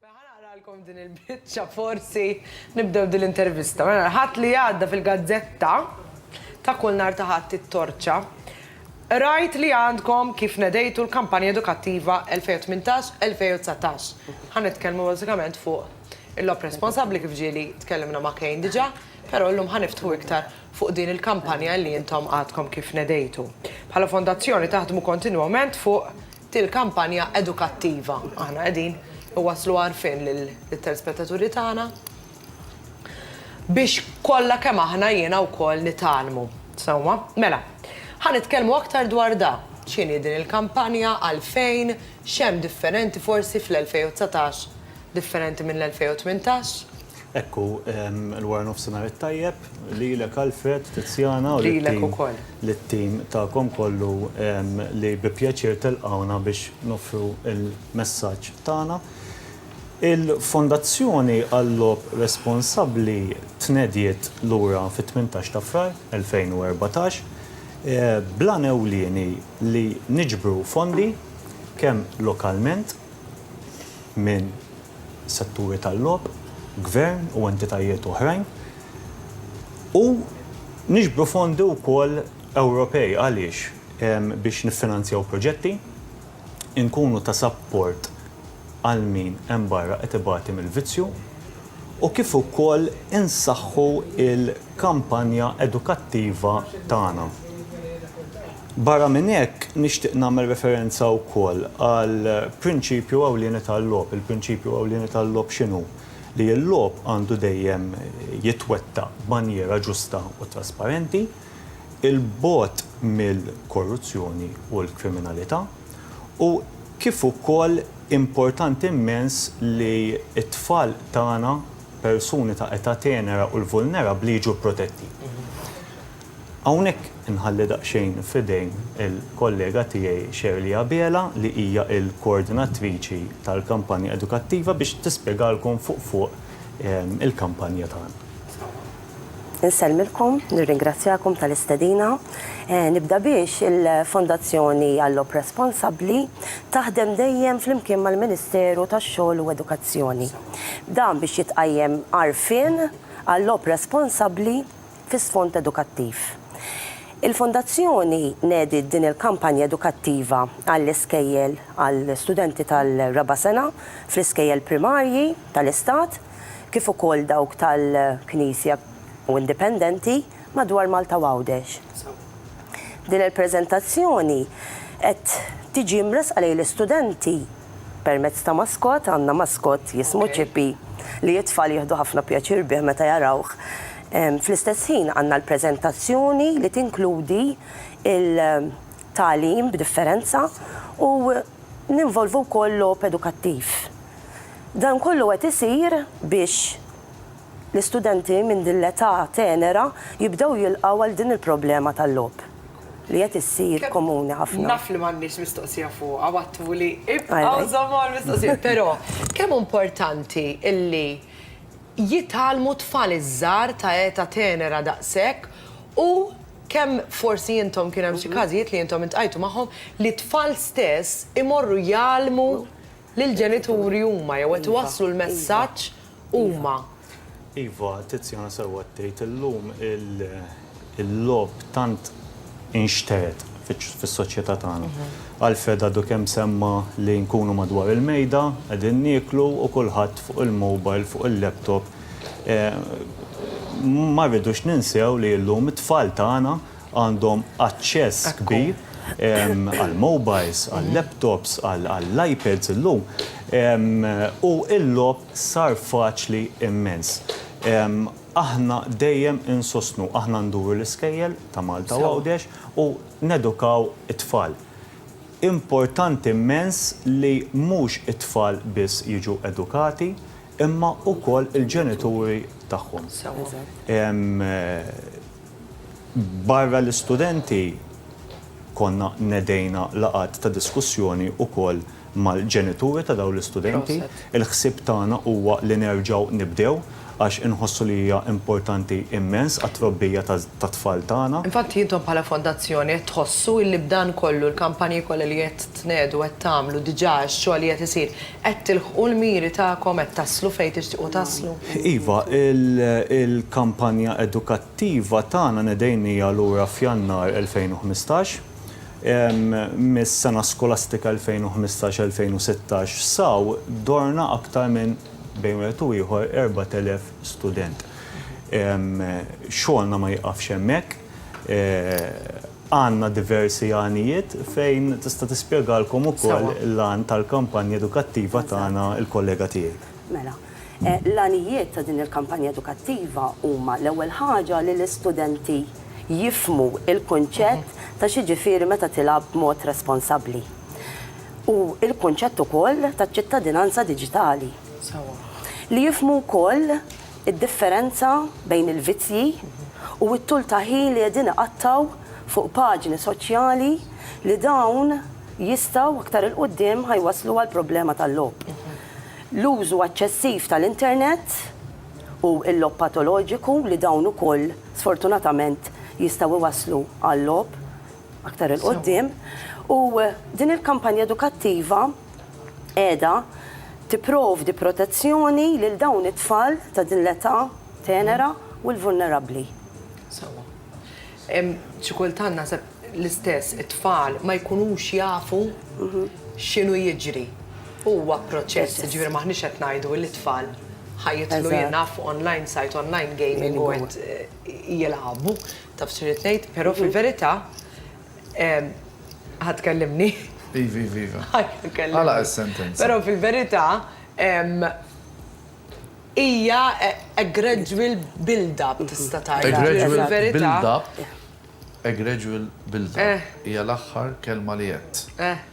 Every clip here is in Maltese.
Ħanaqralkom din il-biċċa forsi nibdew din l-intervista. Mela l-Ħadd li għadda fil-gazzetta ta' kull nhar ta' Ħadd it-Torċa rajt li għandkom kif nedejtu l-kampanja edukattiva 2018-2019. Ħa nitkellmu bażikament fuq il-logħob responsabbli kif ġieli tkellimna ma' Kane diġà. Però llum ħa niftħu iktar fuq din il-kampanja li intom għadkom kif nedejtu. Bħala Fondazzjoni taħdmu kontinwament fuq din il-kampanja edukattiva. Aħna qegħdin inwasslu għarfien lit-telspettaturi tagħna biex kollha kemm aħna jiena wkoll nitgħallmu. Sewwa. Mela, ħa nitkellmu aktar dwar da, x'inhi din il-kampanja, għalfejn, x'hemm differenti forsi fl-2019 differenti minn l-2018? Hekk hu, il-waranofsinhar it-tajjeb lilek Alfred, Tiziana u lit-tim tagħkom kollu li bi pjaċir telqgħuna biex noffru l-messaġġ tagħna. Il-Fondazzjoni għal-Logħob Responsabbli tnediet lura fit-tmintax ta' Frar 2014 bl-għan ewlieni li niġbru fondi kemm lokalment, minn setturi tal-logħob, gvern u entitajiet oħrajn, u niġbru fondi wkoll Ewropej għaliex biex niffinanzjaw proġetti, inkunu ta' sapport għal min hemm barra qed ibati mill-vizzju u kif ukoll insaħħu l-kampanja edukattiva tagħna. Barra minn hekk, nixtieq nagħmel referenza wkoll għal prinċipju ewlieni tal-logħob. Il-prinċipju ewlieni tal-logħob x'inhu? Li l-logħob għandu dejjem jitwettaq b'manjiera ġusta u trasparenti, 'il bogħod mill-korruzzjoni u l-kriminalità, u kif ukoll importanti mmens li t-tfal tagħna, persuni ta' età tenera u l-vulnerabbli jiġu protetti. Hawnhekk inħalli daqsxejn f'idejn il-kollega tiegħi Shirley Abela li hija l-koordinatriċi tal-kampanja edukattiva biex tispjegalkom fuq fuq il-kampanja tagħna. Insellmilkom, nirringrazzjakom tal-istedina. Nibda biex il-Fondazzjoni Għall-Logħob Responsabbli taħdem dejjem flimkien mal-Ministeru tax-Xogħol u Edukazzjoni. Dan biex jitqajjem għarfien għal-logħob responsabbli fi sfond edukattiv. Il-Fondazzjoni nediet din il-kampanja edukattiva għall-iskejjel għal studenti tal-raba' sena fl-iskejjel primarji tal-Istat kif ukoll dawk tal-Knisja u Indipendenti madwar Malta u Għawdex. Din il-preżentazzjoni qed tiġi mressqa lejn l-istudenti permezz ta' maskot, għandna maskot jismu Chippy li t-tfal jieħdu ħafna pjaċir bih meta jarawh. Fl-istess ħin għandna l-preżentazzjoni li tinkludi il-tagħlim b'differenza u ninvolvu wkoll logħob edukattiv. Dan kollu qed isir biex. L-istudenti minn din l-età tenera jibdew jilqgħu għal din il-problema tal-logħob li qed issir komuni ħafna. Naf li m'għandniex mistoqsija fuqha u għadtuli ibqgħu żommu għall-mistoqsija, però kemm hu importanti li jitgħallmu t-tfal iż-żgħar ta' età tenera daqshekk u kemm forsi intom kien hemm xi każijiet li intom iltqajtu magħhom li t-tfal stess imorru jgħallmu Li l-ġenituri huma jew qed iwasslu l-messaġġ huma. Iva, Tiziana sewwa qed tgħid, illum il-logħob tant inxtered fis-soċjetà tagħna. Alfred għadu kemm semma li nkunu madwar il-mejda qegħdin nieklu u kulħadd fuq il-mobile, fuq il-laptop. Ma rridux ninsew li llum it-tfal tagħna, għandhom aċċess kbir għall-mobiles, għal-laptops, għall-iPads illum u l-logħob sar faċli immens. Aħna dejjem insostnu, aħna nduru l-iskejjel ta' Malta u Għawdex u nedukaw it-tfal. Importanti immens li mhux it-tfal biss jiġu edukati imma wkoll il-ġenituri tagħhom. Barra l-istudenti, konna nedejna laqgħat ta' diskussjoni wkoll mal-ġenituri ta' dawn l-istudenti. Il-ħsieb tagħna huwa li nerġgħu nibdew għax inħossu li hija importanti immens għat-trobbija tat-tfal tagħna. Infatti intom bħala fondazzjoni qed tħossu illi b'dan kollu, l-kampanji kollha li qed tnegħdu, qed tagħmlu diġà, ix-xogħol li qed isir, qed tilħqu l-miri tagħkom, qed taslu fejn tixtiequ taslu? Iva, il-kampanja edukattiva tagħna nedejnieha lura f'Jannar 2015. Mis-sena skolastika 2015-2016 saw dorna aktar minn bejn wieħed u ieħor 4,000 student. Xogħolna ma jiqafx hemmhekk. Għandna diversi għanijiet fejn tista' tispjegalkom ukoll l-għan tal-kampanja edukattiva tagħna l-kollega tiegħi. Mela, l-għanijiet ta' din il-kampanja edukattiva huma l-ewwel ħaġa li l-istudenti jifhmu l-kunċett ta' x'jiġifieri meta tilgħab b'mod responsabbli u l-kunċett ukoll taċ-ċittadinanza diġitali. Li jifhmu wkoll Id-differenza bejn il-vizzji u t-tul ta' ħin li qegħdin iqattgħu fuq paġni soċjali li dawn jistgħu aktar 'il quddiem ħa jwasslu għal problema tal-logħob. L-użu eċċessiv tal-internet u l-logħob patoloġiku li dawn ukoll sfortunatament jistgħu jwasslu għal-logħob aktar 'il quddiem u din il-kampanja edukattiva, qiegħda tipprovdi protezzjoni lil dawn it-tfal ta' din l-età tenera u l-vulnerabbli. Sewwa. Xi kultant naħseb l-istess it-tfal ma jkunux jafu x'inhu jiġri. Huwa proċess, jiġifieri m'aħniex qed ngħidu li t-tfal ħa jidħlu jien naf online site, online gaming u qed jilagħbu, taf x'irrid ngħid, però fil-verità, Ħa tkellimni? Iva, iva, iva. Għalaq is-sentenza. Però fil-verità hija a gradual build-up tista' tgħid. A gradual build-up, a gradual build-up eh. hija l-aħħar kelma li għedt. Eh.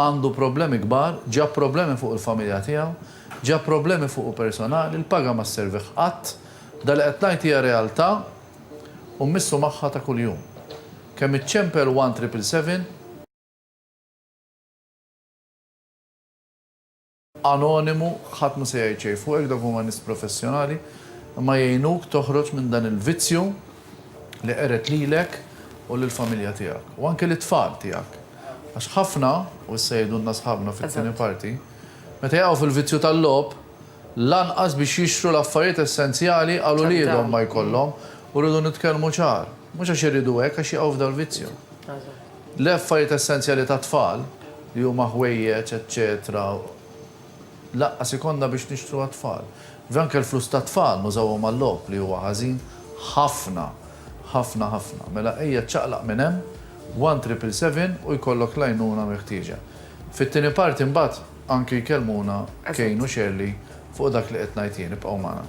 Għandu problemi kbar, ġab problemi fuq il-familja tiegħu, ġab problemi fuqu personali, il-paga ma sservih qatt. Dan li qed ngħid hija realtà u mmissu magħha ta' kuljum. Kemm iċċempel one triple seven. anonimu, ħadd mhu se jgħid xejn fuqek, dawk huma nies professjonali, imma jgħinuk toħroġ minn dan il-vizzju li qered lilek u lill-familja tiegħek, u anke lit-tfal tiegħek. Għax ħafna, u issa jgħidulna sħabna fit-tieni parti, meta jaqgħu fil-vizzju tal-logħob, lanqas biex jixtru l-affarijiet essenzjali għal uliedhom ma jkollhom, u rridu nitkellmu ċar, mhux għax iridu hekk, għax jaqgħu f'dal-vizzju. L-affarijiet essenzjali tat-tfal, li huma ħwejjeġ, eċċetera, lanqas ikollna biex nixtru għat-tfal. Iva, anke l-flus tat-tfal nużawhom għal-logħob, li huwa ħażin ħafna, ħafna, ħafna. Mela ejja ċċaqlaq minn hemm, one triple seven u jkollok l-għajnuna meħtieġa. Fit-tieni parti mbagħad anke jkellmuna Kane u Shirley fuq dak li qed ngħid jien. Ibqgħu magħna.